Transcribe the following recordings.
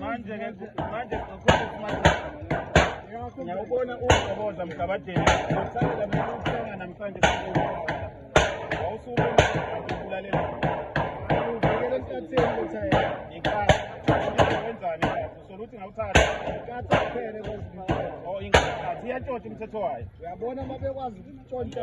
manje ke manje ngiyawubona uwugoboza mgabadeni uthanda mina ukuthenga namhlanje wawusuke ukulalela uvikele enhlatheni ukuthi inkathi wenzani usola ukuthi ngawuthatha inkathi kuphele kwezinto oh inkathi iyantshontsha umthetho wayo uyabona uma bekwazi ukutshontsha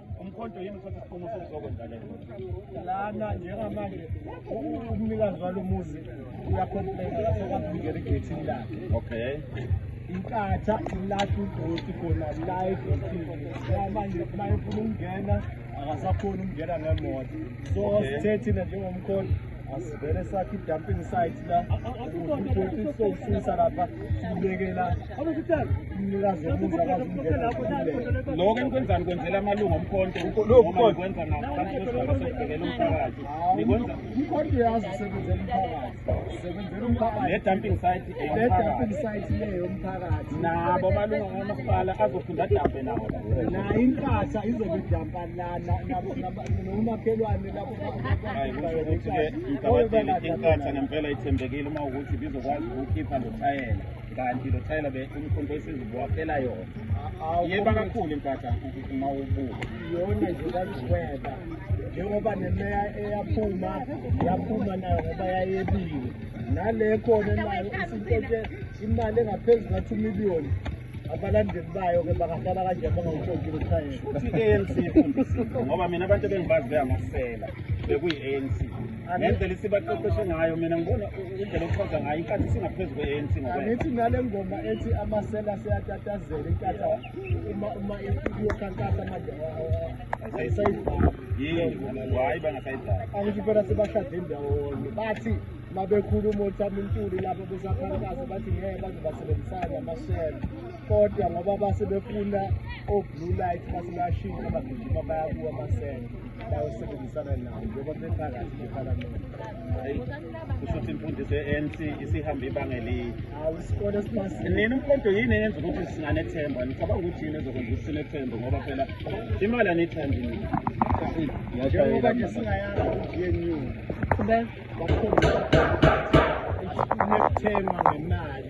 umkhonto yini uthatha isinqumo sokuzokwenza le lana njengamanje umnikazi walo muzi uyakhomplena lasokwazi ukungena egethini lakhe okay inkatha ilathi udoti khona la egethini manje uma efuna ukungena akasakhoni ukungena ngemoto so sithe thina njengomkhonto asivele sakhe i-dumping site la udoti sokusisa lapha sibekela lokho enikwenzani kwenzela amalungu omkhonto noma nikwenza ngaphansi kwesigaba sokubhekela umphakathi nikwenza umkhonto uyazi usebenzela umphakathi usebenzela umphakathi ne-dumping site ne-dumping site le yomphakathi nabo amalungu kamasipala azofunda adambe nawo nayo impahla izobe idampa lana nomakhelwane lapho hayi kusho ukuthi-ke mgabadeli inkatha ngempela ithembekile uma ukuthi bizokwazi ukukhipha lotayela kanti lo thayela be umkhonto esizibuwaphela yona yeba kakhulu impatha uma ubuka yona nje kaziweba njengoba nemeya eyaphuma yaphuma nayo ngoba yayebiwe nale khona nayo isintethe imali engaphezu ka-two million abalandeli bayo ke bangahlala kanje bangawutshontshile uthayela futhi i-anc ifundisile ngoba mina abantu ebengibazi beyamasela bekuyi-anc ngendlela isibaqeqeshe ngayo mina ngibona indlela okuchaza ngayo inkathi singaphezu kwe-anc ngokwanithi nale ngoma ethi amasela seyatatazela inkathi uma uma iyokhankasa manje ayisayidlali hayi bangasayidlali angisho phela sebashade indawonye bathi mabekhuluma othamintuli lapho besakhankasa bathi ngeke baze basebenzisane amasela kodwa ngoba base befuna o-blue light base bayashintsha bagijima bayakuwa amasele bayosebenzisana nawo njengoba bephakathi bephalamende kusho ukuthi imfundiso ye-anc isihambe ibanga eliyi hawu isikole esimasile nina umqodo yini eyenza ukuthi singanethemba nicabanga ukuthi yini ezokwenza ukuthi sinethembe ngoba phela imali aniyithandi nina njengoba nje singayazi i-gnu bakhombisa nethemba ngemali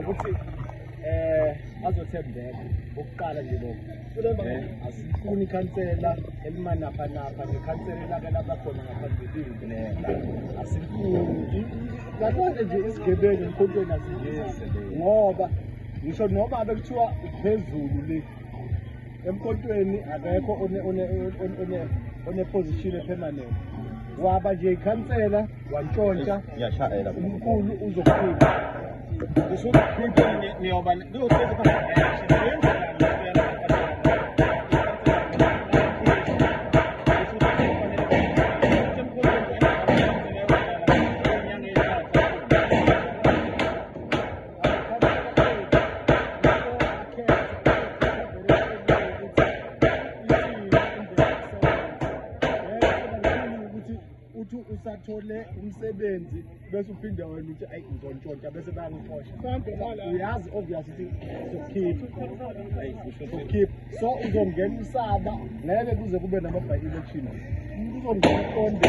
ukuthi eh azothembeka ukuqala nje lokho eh, asifuni ikhansela elimanaphanapha nekhansela elake laba khona ngaphambilini asifuni ngakona nje isigebengu emkhontweni asingenzi ngoba ngisho noma bekuthiwa phezulu le emkotweni akekho oneposition epermanent waba nje ikhansela wantshontsha umkhulu uzokhipha usukhipha niyoba niyokhipha usathole umsebenzi bese uphinde wena uthi ayi ngizontshontsa bese bayangixosha uyazi obvious ukuthi sokhipha so uzongena usaba ngeke kuze kube nama-by election uzongena uqonde